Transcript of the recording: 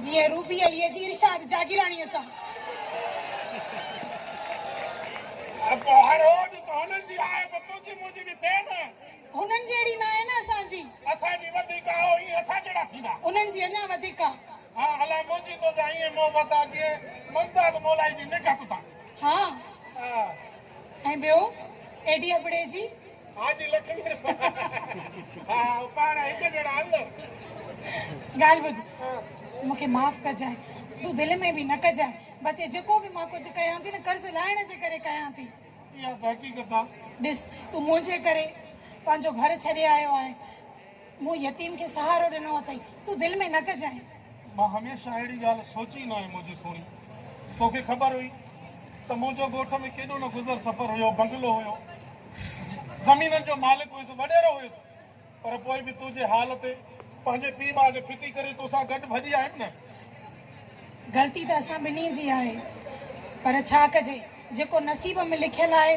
جيئن روبي عليء جي ارشاد جاگيراڻيء سان. پوء هر روز ته هنن جي آء به تنهنجي منهنجي به ٿئي نه. هنن جهڙي ناهي نه اسان جي. اسان جي وڌيڪ آ ائين اسان جهڙا ٿيندا. انهن جي اڃا وڌيڪ آ. ها الاء منهنجي توسان ائين محبت آ جيئن ممتاز مولائي جي نگهت سان. ها ها ۽ ٻيو ايڏي ابڙي جي. حاجي لکمير ها ها پاڻ هڪ جهڙا ال. ڳالهه ٻڌ مون کي معاف ڪجانء تون دل ۾ به نه ڪجانء بس اهي جيڪو به مان ڪجهه ڪيان ٿي نه قرض لاهڻ جي ڪري ڪيان ٿي. اها ته حقيقت آ. ڏس تون منهنجي ڪري پنهنجو گهر ڇڏي آيو آهين. مون يتيم کي سهارو ڏنو اٿئي، تون دل ۾ نه ڪجانء. مان هميشه اهڙي ڳالهه سوچي نه هئي منهنجي سهڻي، توکي خبر هئي ته منهنجو ڳوٺ ۾ ڪيڏو نه گذر سفر هيو، بنگلو هيو، زمينن جو مالڪ هيس، وڏيرو هيس، پر پوء به تنهنجي حال تي پنهنجي پيء ماء جي ڦٽي ڪري توسان گڏ ڀڄي آيم نه. غلطي ته اسان ٻنهي جي آهي، پر ڇا ڪجي، جيڪو نصيب ۾ لکيل آهي.